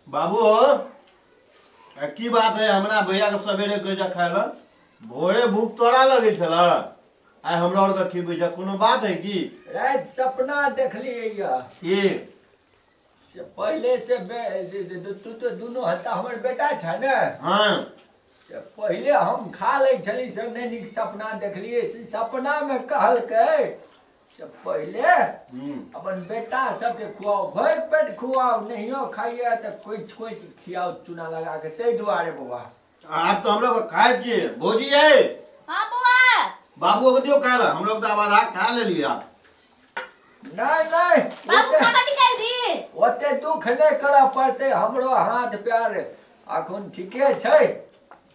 बाबू आ की बात है हमरा भैया के सवेरे कहे जा खाए ला भोरे भूख तोरा लगे छल आइ हमरा और के खिबै जा कोनो बात है की रात सपना देखलिए या की से पहले से बे- जे- जे- जे- तू तो दुनू हत्ता हमर बेटा छ ने हाँ से पहले हम खा ले छली से नहीं नीक सपना देखलिए से सपना में कहलकै से पहिले हम्म। अपन बेटा सबके खुआओ भरि पेट खुआओ नहियो खाइए तऽ कोइच कोइच खियाओ चूना लगा के ताहि दुआरे बौआ आब तऽ हम लोग खाए छियै भौजी यै हाँ बुआ बाबू के दियो खाए ला हम लोग तऽ आब आधा खा लेलियै आब नहि नहि बाबू ओते- खाना निकाल दी ओते दुख नहि करऽ पड़तै हमरो हाथ पैर अखन ठीके छै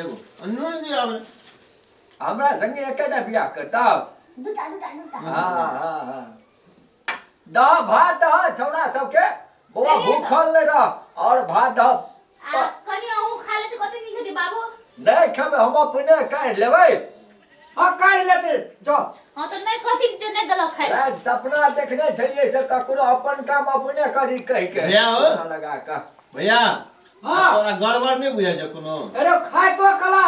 एगो अनून भी आवे हमरा संगे एकेटा बियाह करता दूटा दूटा दूटा हाँ हाँ हाँ दह भात दह छौड़ा सबके बौआ भूखल ले रह और भात दह आ कनी अहू खा लेते कते नीक हेतै बाबू नहीं खेबे हम अपने कर लेबै हाँ कर लेते जो हां त नै कथि जे नै देलक खाइ रात सपना देखने छलिए से ककरो अपन काम अपने करी कहि के भैया हो। लगा का भैया आ हाँ तोरा गड़बड़ नहि बुझाइ छौ कोनो अरे खाइतो कला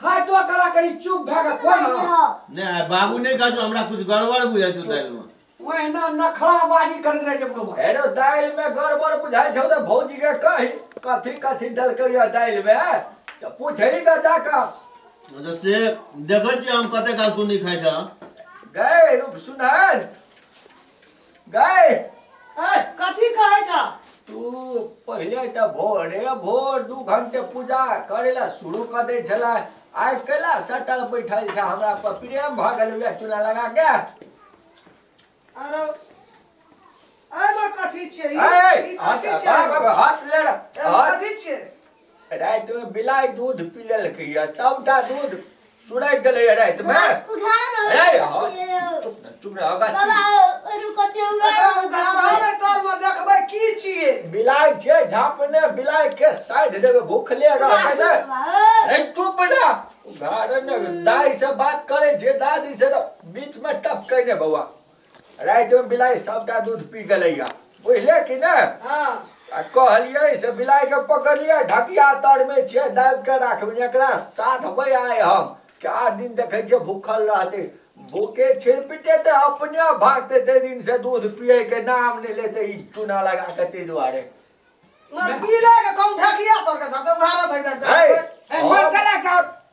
खाइतो कला कनी चुप भए कऽ खो ने नहि आइ बाबू नहि कहै छौ हमरा किछु गड़बड़ बुझाइ छौ दालिमे ओहिना नखराबाजी करैत रहै छै बुढ़वा अरे दालि में गड़बड़ बुझाइ छौ तऽ भौजी के कही कथी कथी देलकै या दालि में से पूछै के जाका मतलब से देखै छियै हम कते काल तू नहि खाइ छह गए रूप सुनार गए ए, कथी कहै छ तू पहिले तऽ भोरे भोर दू घंटे पूजा करे ला शुरू कर दे छला आइ कैला सटल बैठल छ हमरा पर प्रेम भ गेल उहे चूना लगा के आरो एहिमे कथी छै ई- अरे ई कथी हट छै हट, हट ले रे, एहिमे हट कथी छै रातिमे बिलाइ दूध पी लेलकै यऽ सभटा दूध सुरैत गेलै यऽ रातिमे रे हँ, चुप ने चुप ने अगर एकरा उघाड़ामे कालमे देखबै की छियै बिलाइ छै झापने बिलाइ के साइड देबै भूखले रहबै ने रे चुप ने उघाड़े ने दाइ से बात करै छै दादी से तऽ बीचमे टपकै ने बौआ रातिमे बिलाइ सभटा दूध पी गेलैया बुझले कि ने हँ आ कहलियै से बिलाइके पकड़ियै ढकिया तरमे छियै दाबि कऽ राखबै एकरा साधबै आइ हम कए दिन देखै छियै भूखल रहतै भूखे छिरपिटे तऽ अपने भागतै ताहि दिन से दूध पियैके नाम नहि लेतै ई चूना लगा कऽ ताहि दुआरे मर पीले के कहूं ढकिया तोड़ के धरते उधार धइ दे है, मर चला का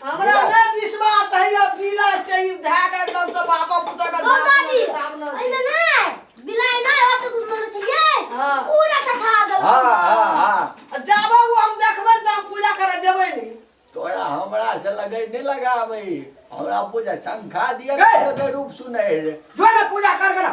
हमरा नै विश्वास है या पीला चाहिए धै के एकदम से बापा पुता का ओ दादी एमे नै बिलाई नै होत तू मन चाहिए हां पूरा सखा दे हां हां हां जाबो हम देखबै त हम पूजा करे जेबै नै तोरा हमरा से लगै नै लगाबै हमरा पूजा शंखा दिया के रूप सुनै रे जो ना पूजा कर कर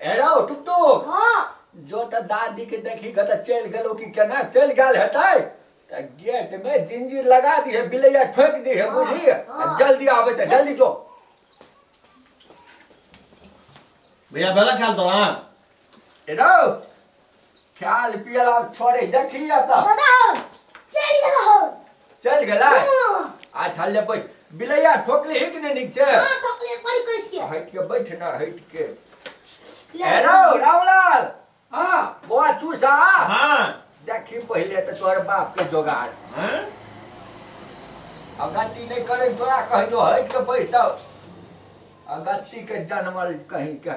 हेरो टुकटुक हाँ जो तऽ दादी के देखी के तऽ चलि गेलो कि केना चलि गेल हेतै तऽ गेट में जिंजीर लगा दिहे बिलैया ठोकि दिहे हाँ, बुझलिए हाँ। जल्दी आबे तऽ जल्दी जो भैया बेला ख्याल तो ना हेरो खायल पियल आब छोड़े देखी एतऽ दादा हो चल गेल हो चल गेलै हाँ आ चल ले बैठ बिलैया ठोकली हिक ने नीक से हाँ, ठोकले पर कस के हट के बैठ ना हट के ले। हेलो रामलाल हाँ बौआ चूसा हाँ देखी पहिले तऽ तोहर बाप के जोगाड़ हाँ आ गलती नहीं करे तोरा कहियो हट के बैठ जाओ आ गलती के जनमल कहीं के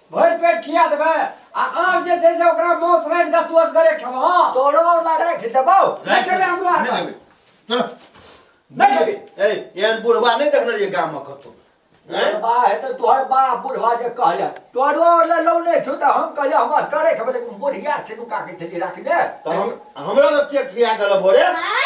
भरि पेट खिया देबै आ आब जे छै से ओकरा मांस रानि कऽ तू असगरे खेबह तोरो वाला राखि देबौ नहि खेबै हमरो हाथ नहि देबै चलो नहि खेबै ए एहन बुढ़वा नहि देखने रहियै गाममे कतहु तोहर बा हेतै तोहर बा बुढ़वा जे कहले तोरो वाला लौ नहि छौ तऽ हम कहलियै हम असगरे खेबै लेकिन बुढ़िया सिनुका के छलियै राखने तऽ हम हमरा लग के खिया गेल भोरे माय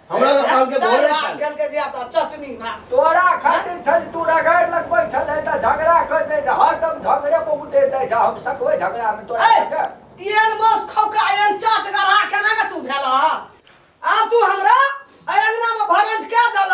हमरा लग काम के भोरे साले। खेल के दिया तो चटनी भात तोरा खातिर छल तू रगड़ लगबै छलै तऽ झगड़ा कर दे जा हरदम झगड़े पर उतरि जाइ जा हम सकबै झगड़ा में तोरा ए, संगे एन बस खौका एन चाट गढ़ा केना के तू भेल आब तू हमरा अय अंगना में भरंट के देल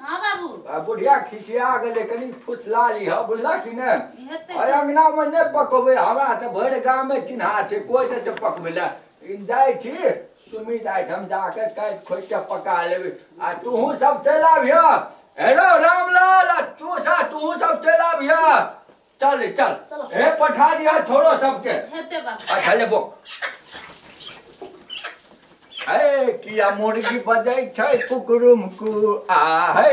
हाँ बाबू आ बुढ़िया खिसिया गेलै कनि फुसला लिह बुझला कि ने ई हेतै एहि अङ्गनामे नहि पकबै हमरा तऽ भरि गाममे चिन्हा छै कोइ नहि तऽ पकबै लए ई जाइ छी सुमित आइठाम जाके काटि खोटि कऽ पका लेबै आ तूहूँ सब चलि आबिह हेरो रामलाल आ चूसा तूहूँ सब चलि आबिह चल रे चल चलो। हे पठा दिया छोरो सबके हेते बा अच्छा ले बो हे किया मुर्गी बजै छै कुकुरुम कु आ हे